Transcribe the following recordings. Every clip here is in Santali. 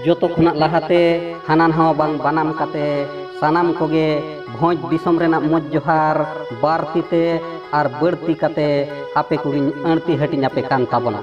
ᱡᱚᱛᱚ ᱠᱷᱚᱱᱟᱜ ᱞᱟᱦᱟᱛᱮ ᱦᱟᱱᱟ ᱱᱟᱣᱟ ᱵᱟᱝ ᱵᱟᱱᱟᱢ ᱠᱟᱛᱮ ᱥᱟᱱᱟᱢ ᱠᱚᱜᱮ ᱵᱷᱚᱸᱡᱽ ᱫᱤᱥᱚᱢ ᱨᱮᱱᱟᱜ ᱢᱚᱡᱽ ᱡᱚᱦᱟᱨ ᱵᱟᱨ ᱛᱤᱛᱮ ᱟᱨ ᱵᱟᱹᱲᱛᱤ ᱠᱟᱛᱮ ᱟᱯᱮ ᱠᱚᱜᱮᱧ ᱟᱹᱲᱛᱤ ᱦᱟᱹᱴᱤᱧ ᱟᱯᱮ ᱠᱟᱱ ᱛᱟᱵᱚᱱᱟ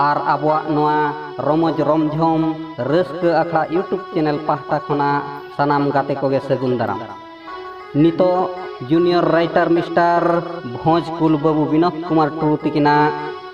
ᱟᱨ ᱟᱵᱚᱣᱟᱜ ᱱᱚᱣᱟ ᱨᱚᱢᱚᱡᱽ ᱨᱚᱢᱡᱷᱚᱢ ᱨᱟᱹᱥᱠᱟᱹ ᱟᱠᱷᱲᱟ ᱤᱭᱩᱴᱩᱵᱽ ᱪᱮᱱᱮᱞ ᱯᱟᱦᱴᱟ ᱠᱷᱚᱱᱟᱜ ᱥᱟᱱᱟᱢ ᱜᱟᱛᱮ ᱠᱚᱜᱮ ᱥᱟᱹᱜᱩᱱ ᱫᱟᱨᱟᱢ ᱱᱤᱛᱚᱜ ᱡᱩᱱᱤᱭᱚᱨ ᱨᱟᱭᱴᱟᱨ ᱢᱤᱥᱴᱟᱨ ᱵᱷᱚᱸᱡᱽ ᱠᱩᱞ ᱵᱟᱹᱵᱩ ᱵᱤᱱᱳᱫ ᱠᱩᱢᱟᱨ ᱴᱩᱰᱩ ᱛᱤᱠᱤᱱᱟᱜ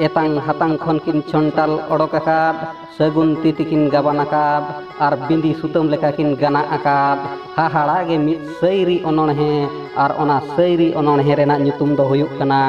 ᱮᱛᱟᱝ ᱦᱟᱛᱟᱝ ᱠᱷᱚᱱ ᱠᱤᱱ ᱪᱚᱱᱴᱟᱞ ᱚᱰᱚᱠ ᱟᱠᱟᱫ ᱥᱟᱹᱜᱩᱱ ᱛᱤ ᱛᱤᱠᱤᱱ ᱜᱟᱵᱟᱱ ᱟᱠᱟᱫ ᱟᱨ ᱵᱤᱸᱫᱤ ᱥᱩᱛᱟᱹᱢ ᱞᱮᱠᱟ ᱠᱤᱱ ᱜᱟᱱᱟᱜ ᱟᱠᱟᱫ ᱦᱟᱦᱟᱲᱟ ᱜᱮ ᱢᱤᱫ ᱥᱟᱹᱭᱨᱤ ᱚᱱᱚᱬᱦᱮ ᱟᱨ ᱚᱱᱟ ᱥᱟᱹᱭᱨᱤ ᱚᱱᱚᱬᱦᱮ ᱨᱮᱱᱟᱜ ᱧᱩᱛᱩᱢ ᱫᱚ ᱦᱩᱭᱩᱜ ᱠᱟᱱᱟ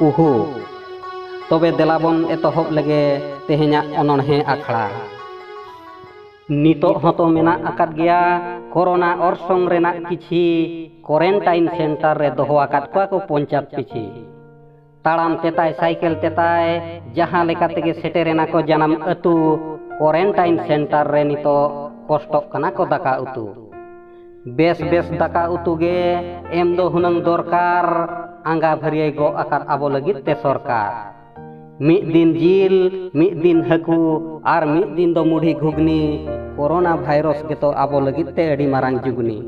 ᱩᱦᱩ ᱛᱚᱵᱮ ᱫᱮᱞᱟ ᱵᱚᱱ ᱮᱛᱚᱦᱚᱵ ᱞᱮᱜᱮ ᱛᱮᱦᱮᱧᱟᱜ ᱚᱱᱚᱬᱦᱮ ᱟᱠᱷᱲᱟ ᱱᱤᱛᱚᱜ ᱦᱚᱸᱛᱚ ᱢᱮᱱᱟᱜ ᱟᱠᱟᱫ ᱜᱮᱭᱟ ᱠᱚᱨᱳᱱᱟ ᱚᱨᱥᱚᱝ ᱨᱮᱱᱟᱜ ᱠᱤᱪᱷᱤ ᱠᱚᱨᱮᱱᱴᱟᱭᱤᱱ ᱥᱮᱱᱴᱟᱨ ᱨᱮ ᱫᱚᱦᱚ ᱟᱠᱟᱫ ᱠᱚᱣᱟ ᱠᱚ ᱯᱚᱧᱪᱟᱭᱮᱛ ᱯᱤᱪᱷᱤ ᱛᱟᱲᱟᱢ ᱛᱮᱛᱟᱭ ᱥᱟᱭᱠᱮᱞ ᱛᱮᱛᱟᱭ ᱡᱟᱦᱟᱸ ᱞᱮᱠᱟ ᱛᱮᱜᱮ ᱥᱮᱴᱮᱨᱮᱱᱟ ᱠᱚ ᱡᱟᱱᱟᱢ ᱟᱹᱛᱩ ᱠᱚᱨᱮᱱᱴᱟᱭᱤᱱ ᱥᱮᱱᱴᱟᱨ ᱨᱮ ᱱᱤᱛᱚᱜ ᱠᱚᱥᱴᱚᱜ ᱠᱟᱱᱟ ᱠᱚ ᱫᱟᱠᱟ ᱩᱛᱩ ᱵᱮᱥ ᱵᱮᱥ ᱫᱟᱠᱟ ᱩᱛᱩ ᱜᱮ ᱮᱢ ᱫᱚ ᱦᱩᱱᱟᱹᱝ ᱫᱚᱨᱠᱟᱨ ᱟᱸᱜᱟ ᱵᱷᱟᱹᱨᱭᱟᱹᱭ ᱜᱚᱜ ᱟᱠᱟᱫ ᱟᱵᱚ ᱞᱟᱹᱜᱤᱫ ᱛᱮ ᱥᱚᱨᱠᱟᱨ ᱢᱤᱫ ᱫᱤᱱ ᱡᱤᱞ ᱢᱤᱫ ᱫᱤᱱ ᱦᱟᱹᱠᱩ ᱟᱨ ᱢᱤᱫ ᱫᱤᱱ ᱫᱚ ᱢᱩᱰᱷᱤ ᱜᱷᱩᱜᱽᱱᱤ ᱠᱳᱨᱳᱱᱟ ᱵᱷᱟᱭᱨᱚᱥ ᱜᱮᱛᱚ ᱟᱵᱚ ᱞᱟᱹᱜᱤᱫ ᱛᱮ ᱟᱹᱰᱤ ᱢᱟᱨᱟᱝ ᱡᱩᱜᱽᱱᱤ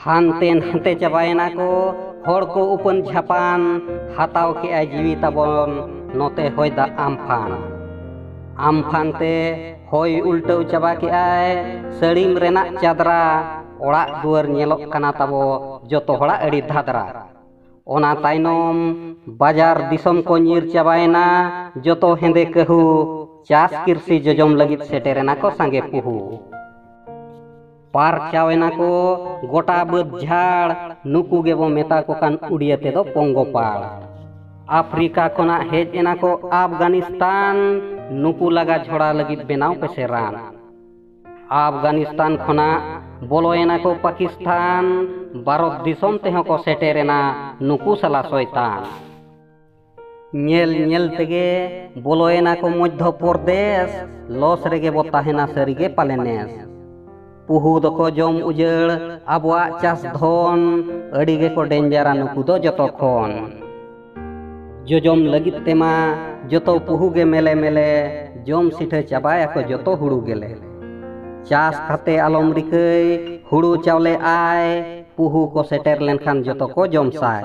ᱦᱟᱱᱛᱮ ᱱᱟᱛᱮ ᱪᱟᱵᱟᱭᱮᱱᱟ ᱠᱚ ᱦᱚᱲ ᱠᱚ ᱩᱯᱟᱹᱱ ᱡᱷᱟᱯᱟᱱ ᱦᱟᱛᱟᱣ ᱠᱮᱜᱼᱟᱭ ᱡᱤᱣᱤ ᱛᱟᱵᱚᱱ ᱱᱚᱛᱮ ᱦᱚᱭ ᱫᱟᱜ ᱟᱢᱯᱷᱟᱱ ᱟᱢᱯᱷᱟᱱ ᱛᱮ ᱦᱚᱭ ᱩᱞᱴᱟᱹᱣ ᱪᱟᱵᱟ ᱠᱮᱜᱼᱟᱭ ᱥᱟᱹᱲᱤᱢ ᱨᱮᱱᱟᱜ ᱪᱟᱫᱽᱨᱟ ᱚᱲᱟᱜ ᱫᱩᱣᱟᱹᱨ ᱧᱮᱞᱚᱜ ᱠᱟᱱᱟ ᱛᱟᱵᱚ ᱡᱚᱛᱚ ᱦᱚᱲᱟᱜ ᱟᱹᱰᱤ ᱫᱷᱟᱫᱽᱨᱟ ᱚᱱᱟ ᱛᱟᱭᱱᱚᱢ ᱵᱟᱡᱟᱨ ᱫᱤᱥᱚᱢ ᱠᱚ ᱧᱤᱨ ᱪᱟᱵᱟᱭᱮᱱᱟ ᱡᱚᱛᱚ ᱦᱮᱸᱫᱮ ᱠᱟᱹᱦᱩ ᱪᱟᱥ ᱠᱤᱨᱥᱤ ᱡᱚᱡᱚᱢ ᱞᱟᱹᱜᱤᱫ ᱥᱮᱴᱮᱨᱮᱱᱟ ᱠᱚ ᱥᱟᱸᱜᱮ ᱯᱩᱦᱩ ᱯᱟᱨᱪᱟᱣ ᱮᱱᱟ ᱠᱚ ᱜᱚᱴᱟ ᱵᱟᱹᱫᱽ ᱡᱷᱟᱲ ᱱᱩᱠᱩ ᱜᱮᱵᱚ ᱢᱮᱛᱟ ᱠᱚ ᱠᱟᱱ ᱩᱰᱤᱭᱟᱹ ᱛᱮᱫᱚ ᱯᱚᱝᱜᱚᱯᱟᱲ ᱟᱯᱷᱨᱤᱠᱟ ᱠᱷᱚᱱᱟᱜ ᱦᱮᱡ ᱮᱱᱟ ᱠᱚ ᱟᱯᱷᱜᱟᱱᱤᱥᱛᱟᱱ ᱱᱩᱠᱩ ᱞᱟᱜᱟ ᱡᱷᱚᱲᱟ ᱞᱟᱹᱜᱤᱫ ᱵᱮᱱᱟᱣ ᱯᱮᱥᱮ ᱨᱟᱱ ᱟᱯᱷᱜᱟᱱᱤᱥᱛᱟᱱ ᱠᱷᱚᱱᱟᱜ ᱵᱚᱞᱚᱭᱮᱱᱟ ᱠᱚ ᱯᱟᱠᱤᱥᱛᱟᱱ ᱵᱷᱟᱨᱚᱛ ᱫᱤᱥᱚᱢ ᱛᱮᱦᱚᱸ ᱠᱚ ᱥᱮᱴᱮᱨᱮᱱᱟ ᱱᱩᱠᱩ ᱥᱟᱞᱟ ᱥᱚᱭᱛᱟᱱ ᱧᱮᱞ ᱧᱮᱞ ᱛᱮᱜᱮ ᱵᱚᱞᱚᱭᱮᱱᱟ ᱠᱚ ᱢᱚᱫᱽᱫᱷᱚ ᱯᱨᱚᱫᱮᱥ ᱞᱚᱥ ᱨᱮᱜᱮ ᱵᱚ ᱛᱟᱦᱮᱱᱟ ᱥᱟᱹᱨᱤᱜᱮ ᱯᱟᱞᱮᱱᱮᱥ ᱯᱩᱦᱩ ᱫᱚᱠᱚ ᱡᱚᱢ ᱩᱡᱟᱹᱲ ᱟᱵᱚᱣᱟᱜ ᱪᱟᱥ ᱫᱷᱚᱱ ᱟᱹᱰᱤ ᱜᱮᱠᱚ ᱰᱮᱧᱡᱟᱨᱟ ᱱᱩᱠᱩ ᱫᱚ ᱡᱚᱛᱚ ᱠᱷᱚᱱ ᱡᱚᱡᱚᱢ ᱞᱟᱹᱜᱤᱫ ᱛᱮᱢᱟ ᱡᱚᱛᱚ ᱯᱩᱦᱩ ᱜᱮ ᱢᱮᱞᱮ ᱢᱮᱞᱮ ᱡᱚᱢ ᱥᱤᱴᱷᱟᱹ ᱪᱟᱵᱟᱭᱟᱠᱚ ᱡᱚᱛᱚ ᱦᱩᱲᱩ ᱜᱮᱞᱮ ᱪᱟᱥ ᱠᱟᱛᱮ ᱟᱞᱚᱢ ᱨᱤᱠᱟᱹᱭ ᱦᱩᱲᱩ ᱪᱟᱣᱞᱮ ᱟᱭ ᱯᱩᱦᱩ ᱠᱚ ᱥᱮᱴᱮᱨ ᱞᱮᱱᱠᱷᱟᱱ ᱡᱚᱛᱚ ᱠᱚ ᱡᱚᱢ ᱥᱟᱭ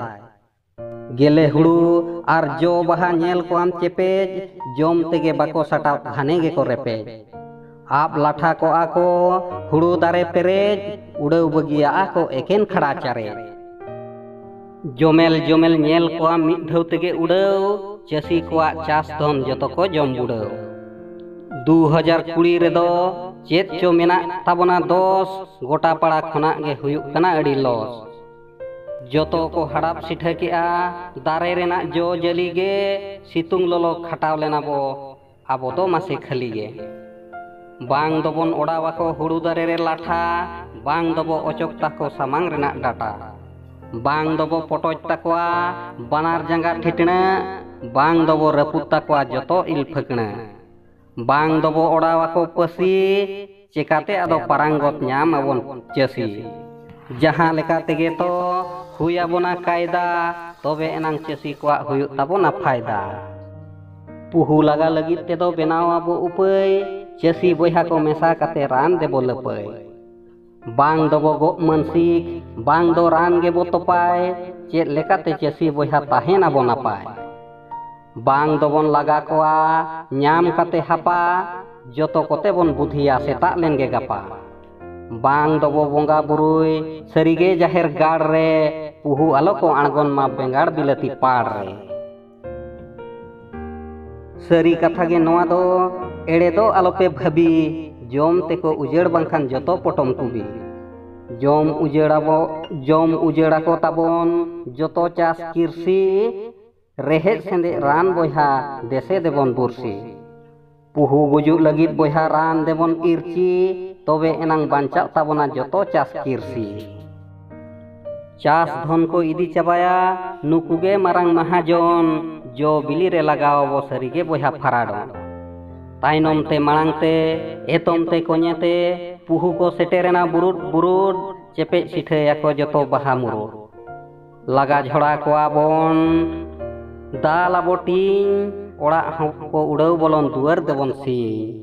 ᱜᱮᱞᱮ ᱦᱩᱲᱩ ᱟᱨ ᱡᱚ ᱵᱟᱦᱟ ᱧᱮᱞ ᱠᱚ ᱟᱢ ᱪᱮᱯᱮᱡ ᱡᱚᱢ ᱛᱮᱜᱮ ᱵᱟᱠᱚ ᱥᱟᱴᱟᱣ ᱜᱷᱟᱱᱮ ᱜᱮᱠᱚ ᱨᱮᱯᱮᱡ ᱟᱵ ᱞᱟᱴᱷᱟ ᱠᱚᱜᱼᱟ ᱠᱚ ᱦᱩᱲᱩ ᱫᱟᱨᱮ ᱯᱮᱨᱮᱡ ᱩᱰᱟᱹᱣ ᱵᱟᱹᱜᱤᱭᱟᱜᱼᱟ ᱠᱚ ᱮᱠᱮᱱ ᱠᱷᱟᱲᱟ ᱪᱟᱨᱮᱡ ᱡᱚᱢᱮᱞ ᱡᱚᱢᱮᱞ ᱧᱮᱞ ᱠᱚᱣᱟ ᱢᱤᱫ ᱫᱷᱟᱹᱣ ᱛᱮᱜᱮ ᱩᱰᱟᱹᱣ ᱪᱟᱹᱥᱤ ᱠᱚᱣᱟᱜ ᱪᱟᱥ ᱫᱷᱚᱱ ᱡᱚᱛᱚ ᱠᱚ ᱡᱚᱢ ᱵᱩᱰᱟᱹᱣ ᱫᱩ ᱦᱟᱡᱟᱨ ᱠᱩᱲᱤ ᱨᱮᱫᱚ ᱪᱮᱫ ᱪᱚ ᱢᱮᱱᱟᱜ ᱛᱟᱵᱚᱱᱟ ᱫᱚᱥ ᱜᱚᱴᱟ ᱯᱟᱲᱟ ᱠᱷᱚᱱᱟᱜ ᱜᱮ ᱦᱩᱭᱩᱜ ᱠᱟᱱᱟ ᱟᱹᱰᱤ ᱞᱚᱥ ᱡᱚᱛᱚ ᱠᱚ ᱦᱟᱲᱟᱯ ᱥᱤᱴᱷᱟᱹ ᱠᱮᱜᱼᱟ ᱫᱟᱨᱮ ᱨᱮᱱᱟᱜ ᱡᱚ ᱡᱟᱹᱞᱤ ᱜᱮ ᱥᱤᱛᱩᱝ ᱞᱚᱞᱚ ᱠᱷᱟᱴᱟᱣ ᱞᱮᱱᱟ ᱵᱚ ᱟᱵᱚ ᱫᱚ ᱢᱟᱥᱮ ᱠᱷᱟᱹᱞᱤ ᱜᱮ ᱵᱟᱝ ᱫᱚᱵᱚᱱ ᱚᱲᱟᱣ ᱟᱠᱚ ᱦᱩᱲᱩ ᱫᱟᱨᱮ ᱨᱮ ᱞᱟᱴᱷᱟ ᱵᱟᱝ ᱫᱚᱵᱚ ᱚᱪᱚᱠ ᱛᱟᱠᱚ ᱥᱟᱢᱟᱝ ᱨᱮᱱᱟᱜ ᱰᱟᱴᱟ ᱵᱟᱝ ᱫᱚᱵᱚ ᱯᱚᱴᱚᱡ ᱛᱟᱠᱚᱣᱟ ᱵᱟᱱᱟᱨ ᱡᱟᱸᱜᱟ ᱴᱷᱤᱴᱬᱟᱹ ᱵᱟᱝ ᱫᱚᱵᱚ ᱨᱟᱹᱯᱩᱫ ᱛᱟᱠᱚᱣᱟ ᱡᱚᱛᱚ ᱤᱞ ᱯᱷᱟᱹᱠᱬᱟᱹ ᱵᱟᱝ ᱫᱚᱵᱚ ᱚᱰᱟᱣ ᱟᱠᱚ ᱯᱟᱹᱥᱤ ᱪᱮᱠᱟᱛᱮ ᱟᱫᱚ ᱯᱟᱨᱟᱝᱜᱚᱛ ᱧᱟᱢ ᱟᱵᱚᱱ ᱪᱟᱹᱥᱤ ᱡᱟᱦᱟᱸ ᱞᱮᱠᱟ ᱛᱮᱜᱮ ᱛᱚ ᱦᱩᱭ ᱟᱵᱚᱱᱟ ᱠᱟᱭᱫᱟ ᱛᱚᱵᱮ ᱮᱱᱟᱝ ᱪᱟᱹᱥᱤ ᱠᱚᱣᱟᱜ ᱦᱩᱭᱩᱜ ᱛᱟᱵᱚᱱᱟ ᱯᱷᱟᱭᱫᱟ ᱯᱩᱦᱩ ᱞᱟᱜᱟ ᱞᱟᱹᱜᱤᱫ ᱛᱮᱫᱚ ᱵᱮᱱᱟᱣ ᱟᱵᱚ ᱩᱯᱟᱹᱭ ᱪᱟᱹᱥᱤ ᱵᱚᱭᱦᱟ ᱠᱚ ᱢᱮᱥᱟ ᱠᱟᱛᱮ ᱨᱟᱱ ᱫᱮᱵᱚ ᱞᱟᱹᱯᱟᱹᱭ ᱵᱟᱝ ᱰᱚᱵᱚᱜᱚᱜ ᱢᱟᱹᱱᱥᱤᱠ ᱵᱟᱝ ᱫᱚ ᱨᱟᱱ ᱜᱮᱵᱚ ᱛᱚᱯᱟᱭ ᱪᱮᱫ ᱞᱮᱠᱟᱛᱮ ᱪᱟᱹᱥᱤ ᱵᱚᱭᱦᱟ ᱛᱟᱦᱮᱱ ᱟᱵᱚ ᱱᱟᱯᱟᱭ ᱵᱟᱝ ᱫᱚᱵᱚᱱ ᱞᱟᱜᱟ ᱠᱚᱣᱟ ᱧᱟᱢ ᱠᱟᱛᱮ ᱦᱟᱯᱟ ᱡᱚᱛᱚ ᱠᱚᱛᱮ ᱵᱚᱱ ᱵᱩᱫᱷᱤᱭᱟ ᱥᱮᱛᱟᱜ ᱞᱮᱱ ᱜᱮ ᱜᱟᱯᱟ ᱵᱟᱝ ᱫᱚᱵᱚ ᱵᱚᱸᱜᱟ ᱵᱩᱨᱩᱭ ᱥᱟᱹᱨᱤᱜᱮ ᱡᱟᱦᱮᱨ ᱜᱟᱲ ᱨᱮ ᱯᱩᱦᱩ ᱟᱞᱚ ᱠᱚ ᱟᱬᱜᱚᱱ ᱢᱟ ᱵᱮᱸᱜᱟᱲ ᱵᱤᱞᱟᱹᱛᱤ ᱯᱟᱲ ᱨᱮ ᱥᱟᱹᱨᱤ ᱠᱟᱛᱷᱟ ᱜᱮ ᱱᱚᱣᱟ ᱫᱚ ᱮᱲᱮ ᱫᱚ ᱟᱞᱚᱯᱮ ᱵᱷᱟᱹᱵᱤ ᱡᱚᱢ ᱛᱮᱠᱚ ᱩᱡᱟᱹᱲ ᱵᱟᱝᱠᱷᱟᱱ ᱡᱚᱛᱚ ᱯᱚᱴᱚᱢ ᱠᱩᱵᱤ ᱡᱚᱢ ᱩᱡᱟᱹᱲᱟᱵᱚ ᱡᱚᱢ ᱩᱡᱟᱹᱲᱟᱠᱚ ᱛᱟᱵᱚᱱ ᱡᱚᱛᱚ ᱪᱟᱥ ᱠᱤᱨᱥᱤ ᱨᱮᱦᱮᱫ ᱥᱮᱸᱫᱮᱡ ᱨᱟᱱ ᱵᱚᱭᱦᱟ ᱫᱮᱥᱮ ᱫᱮᱵᱚᱱ ᱵᱩᱨᱥᱤ ᱯᱩᱦᱩ ᱜᱩᱡᱩᱜ ᱞᱟᱹᱜᱤᱫ ᱵᱚᱭᱦᱟ ᱨᱟᱱ ᱫᱮᱵᱚᱱ ᱤᱨᱪᱤ ᱛᱚᱵᱮ ᱮᱱᱟᱝ ᱵᱟᱧᱪᱟᱜ ᱛᱟᱵᱚᱱᱟ ᱡᱚᱛᱚ ᱪᱟᱥ ᱠᱤᱨᱥᱤ ᱪᱟᱥ ᱫᱷᱚᱱ ᱠᱚ ᱤᱫᱤ ᱪᱟᱵᱟᱭᱟ ᱱᱩᱠᱩ ᱜᱮ ᱢᱟᱨᱟᱝ ᱢᱟᱦᱟᱡᱚᱱ ᱡᱚ ᱵᱤᱞᱤ ᱨᱮ ᱞᱟᱜᱟᱣ ᱟᱵᱚ ᱥᱟᱹᱨᱤ ᱜᱮ ᱵᱚᱭᱦᱟ ᱯᱷᱟᱨᱟᱰᱚᱱ ᱛᱟᱭᱱᱚᱢ ᱛᱮ ᱢᱟᱲᱟᱝ ᱛᱮ ᱮᱛᱚᱢ ᱛᱮ ᱠᱚᱧᱮ ᱛᱮ ᱯᱩᱦᱩ ᱠᱚ ᱥᱮᱴᱮᱨᱮᱱᱟ ᱵᱩᱨᱩᱰ ᱵᱩᱨᱩᱰ ᱪᱮᱯᱮᱡ ᱥᱤᱴᱷᱟᱹᱭᱟᱠᱚ ᱡᱚᱛᱚ ᱵᱟᱦᱟ ᱢᱩᱨᱩᱰ ᱞᱟᱜᱟ ᱡᱷᱚᱲᱟ ᱠᱚᱣᱟ ᱵᱚᱱ ᱫᱟᱞ ᱟᱵᱚ ᱴᱤᱧ ᱚᱲᱟᱜ ᱦᱚᱸ ᱠᱚ ᱩᱰᱟᱹᱣ ᱵᱚᱞᱚᱱ ᱫᱩᱣᱟᱹᱨ ᱫᱮᱵᱚᱱ ᱥᱤᱧ